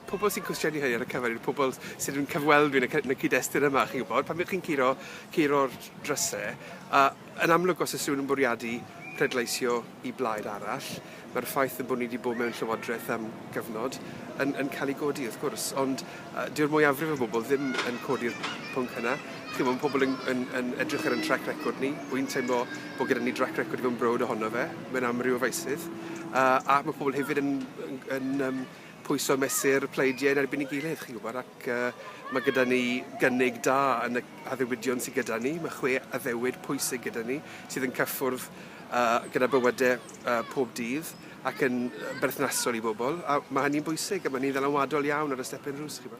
pobl sy'n cwestiynu hynny ar y cyfer yw'r pobl sydd yn cyfweldu yn y cyd-destun yma, chi'n gwybod, pan ydych chi'n curo, curo'r drysau, a yn amlwg os yswn yn bwriadu pleidleisio i blaid arall, Mae'r ffaith ein bod ni wedi bod mewn Llywodraeth am gyfnod yn yn cael ei godi, wrth gwrs, ond yy dyw'r mwyafrif o bobl ddim yn codi'r pwnc yna. Chi'n gwybod, mae pobl yn yn yn edrych ar ein trac record ni. Wi'n teimlo bod gyda ni drac record i fod yn browd ohono fe, mewn amryw o faesydd. Yy a mae pobl hefyd yn yn yn yym pwyso a mesur pleidiau yn erbyn ei gilydd, chi'n gwybod, ac yy mae gyda ni gynnig da yn y addewidion sydd gyda ni. Mae chwe addewid pwysig gyda ni sydd yn cyffwrdd yy gyda bywyde pob dydd ac yn berthnasol i bobl, a ma' hynny'n bwysig a ma' hynny'n ddylanwadol iawn ar y step in rooms chi'bo'.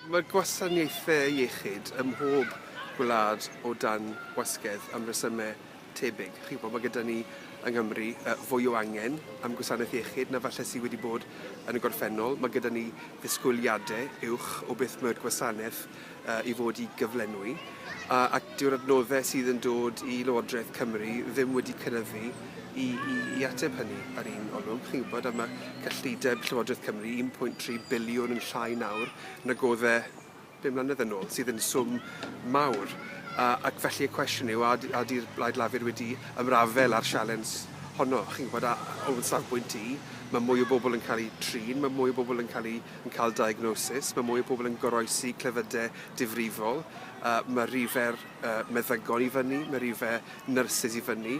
Mae gwasanaethau iechyd ym mhob gwlad o dan wasgedd am resymau tebyg. Chi'n gwybod, mae gyda ni yng Nghymru fwy o angen am gwasanaeth iechyd na falle sydd wedi bod yn y gorffennol. Mae gyda ni ddisgwyliadau uwch o beth mae'r gwasanaeth i fod i gyflenwi, ac dyw'r adnoddau sydd yn dod i Lywodraeth Cymru ddim wedi cynyddu i i i ateb hynny ar un olwg. Chi'n gwybod, a mae cyllideb Llywodraeth Cymru 1.3 biliwn yn llai nawr nag oedd e bum mlynedd yn ôl, sydd yn swm mawr. A, ac felly y cwestiwn yw, a, a di'r Blaid Lafur wedi ymrafel â'r sialens honno? Chi'n gwybod, a, a, o'n safbwynt i, mae mwy o bobl yn cael eu trin, mae mwy o bobl yn cael eu yn cael diagnosis, mae mwy o bobl yn goroesi clefydau difrifol, uh, mae rhifau'r uh, meddygon i fyny, mae rhifau nyrsys i fyny.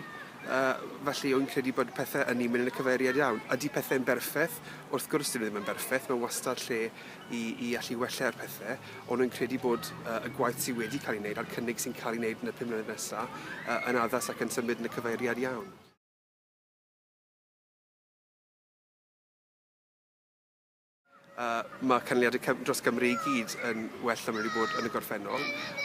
Uh, felly o'n credu bod pethau yn ei mynd yn y cyfeiriad iawn. Ydy pethau'n berffaith? Wrth gwrs dyn nhw ddim yn berffaith, mae wastad lle i, i allu wella'r pethau, ond o'n credu bod uh, y gwaith sydd wedi cael ei wneud a'r cynnig sy'n cael ei wneud yn y pum mlynedd nesaf uh, yn addas ac yn symud yn y cyfeiriad iawn. A mae canlyniadau dros Gymru i gyd yn well na maen nhw wedi bod yn y gorffennol.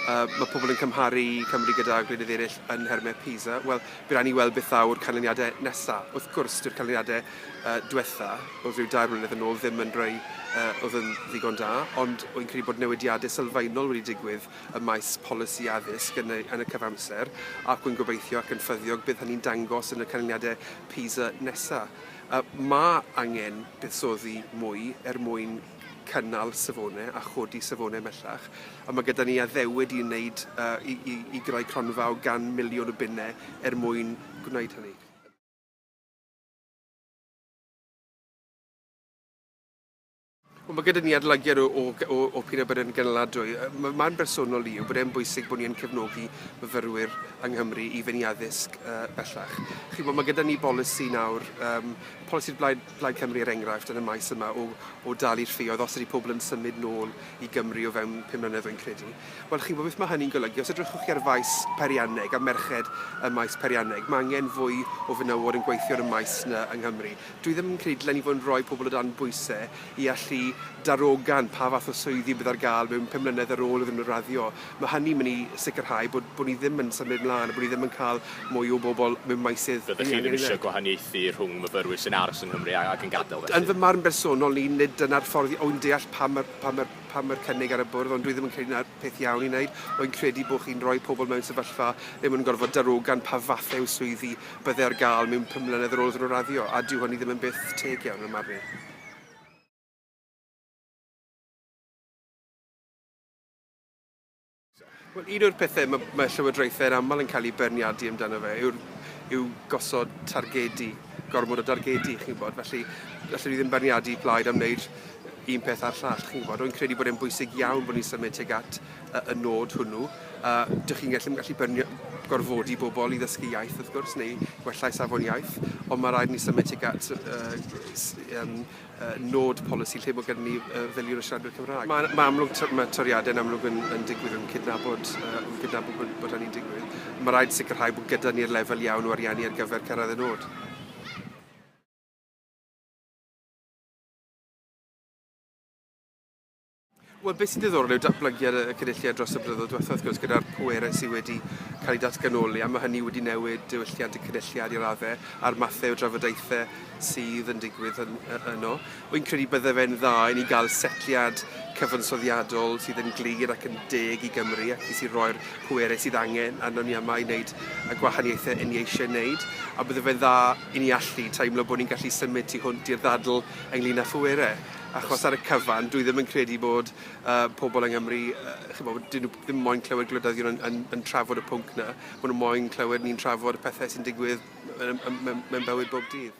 A mae pobl yn cymharu Cymru gyda gwledydd eraill yn nhermau PISA. Wel, bydd rhaid ni weld beth awr canlyniadau nesaf. Wrth gwrs, dyw'r canlyniadau uh, diwetha o rhyw dair mlynedd yn ôl ddim yn rhoi uh, oedd yn ddigon da, ond wy'n credu bod newidiadau sylfaenol wedi digwydd y maes polisi addysg yn y, yn y cyfamser, ac wy'n gobeithio ac yn ffyddiog bydd hynny'n dangos yn y canlyniadau PISA nesaf. A Mae angen buddsoddi mwy er mwyn cynnal safonau a chodi safonau ymhellach, a mae gyda ni addewid i wneud, i, i, i greu cronfa o gan miliwn o bunnau er mwyn gwneud hynny. Wel, mae gyda ni adolygiad o, o, o, o p'un a bod yn gynaladwy. Mae ma'n bersonol i yw bod e'n bwysig bod ni yn cefnogi myfyrwyr yng Nghymru i fynd i addysg uh, bellach. Chi'n bod, mae gyda ni bolisi nawr, um, polisi'r Blaid, Blaid Cymru er enghraifft yn y maes yma o, o dalu'r ffioedd os ydy pobl yn symud nôl i Gymru o fewn 5 mlynedd rwy'n credu. Wel, chi'n bod beth mae hynny'n golygu? Os edrychwch chi ar faes perianneg a merched y maes perianneg, mae angen fwy o fenywod yn gweithio yn y maes yna yng Nghymru. Dwi ddim yn credu ddylen ni fod yn rhoi pobl o dan bwysau i allu darogan pa fath o swyddi bydd ar gael mewn pum mlynedd ar ôl iddyn nhw raddio. Mae hynny'n mynd i sicrhau bod, bod ni ddim yn symud mlaen a bod ni ddim yn cael mwy o bobl mewn meysydd Rydych chi ddim eisiau gwahaniaethu rhwng myfyrwyr sy'n aros yng Nghymru ac yn gadael felly? Yn fy marn bersonol ni, nid dyna'r ffordd i... O, wi'n deall pam mae'r, pam mae'r, pam mae'r cynnig ar y bwrdd, ond dwi ddim yn credu na, peth iawn i wneud. Rwy'n credu bod chi'n rhoi pobl mewn sefyllfa lle maen nhw'n gorfod darogan pa fathau o swyddi byddai ar gael mewn pum mlynedd ar ôl iddyn nhw raddio, a dyw hynny ddim yn beth teg iawn yn fy marn i. Wel, un o'r pethau mae, mae llywodraethau'n aml yn cael eu beirniadu amdano fe yw'r yw gosod targedu, gormod o dargedu, chi'n bod. Felly, allen ni ddim beirniadu plaid am wneud un peth a'r llall, chi'n gwybod. Rwy'n credu bod e'n bwysig iawn bod ni'n symud tuag at uh, y nod hwnnw. Uh, dych chi'n gallu, gallu byrnio, gorfodi bobl i ddysgu iaith, wrth gwrs, neu gwella safon iaith, ond mae rhaid ni symud tuag at uh, um, uh, nod polisi lle bod gyda ni uh, ddeliwr y siaradwyr Cymraeg. Mae ma amlwg, mae toriadau yn amlwg yn, yn digwydd yn cydnabod, uh, yn cydnabod bod, bod hynny'n digwydd. Mae rhaid sicrhau bod gyda ni'r lefel iawn o ariannu ar gyfer cyrraedd y nod. Wel, beth sy'n ddiddorol yw datblygiad y cynulliad dros y blynyddoedd diwethaf, wrth gwrs, gyda'r pwerau sydd wedi cael eu datganoli, a mae hynny wedi newid diwylliant y cynulliad i raddau a'r mathau o drafodaethau sydd yn digwydd yn, yno. Wy'n credu bydde fe'n dda i ni gael setliad cyfansoddiadol sydd yn glir ac yn deg i Gymru ac sy'n rhoi'r pwerau sydd angen arnon ni yma i wneud y gwahaniaethau 'yn ni eisiau ei wneud, a bydde fe'n dda i ni allu teimlo bod ni'n gallu symud tu hwnt i'r ddadl ynglŷn â phwerau, achos ar y cyfan, dwi ddim yn credu bod yy pobl yng Nghymru, yy chimod, 'dyn nhw ddim moyn clywed gwleidyddion yn yn yn trafod y pwnc 'na, maen nhw moyn clywed ni'n trafod y pethau sy'n digwydd yn y m- m- mewn bywyd bob dydd.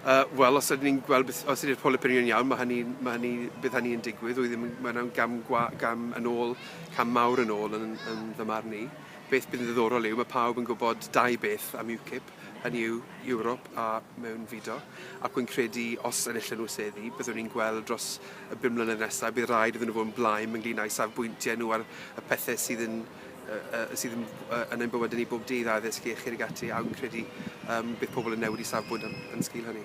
Yy, wel, os ydyn ni'n gweld beth... Os ydy'r polypynion yn iawn, mae hynny... mae hynny... bydd hynny yn digwydd. Dwi ddim yn... Mae hwnna'n gam gwa- gam yn ôl, cam mawr yn ôl yn yn fy marn i. Beth bydd yn ddiddorol yw, mae pawb yn gwybod dau beth am UKIP, hynny yw Ewrop a mewnfudo, ac wy'n credu, os enillon nhw seddi, byddwn ni'n gweld dros y bum mlynedd nesaf, bydd rhaid iddyn nhw fod yn blaen ynglŷn â'u safbwyntiau nhw ar y pethau sydd yn yy sydd yn yy yn ein bywyde ni bob dydd, addysg, iechyd ag ati, a wi'n credu yym bydd pobl yn newid 'u safbwynt yn yn sgil hynny.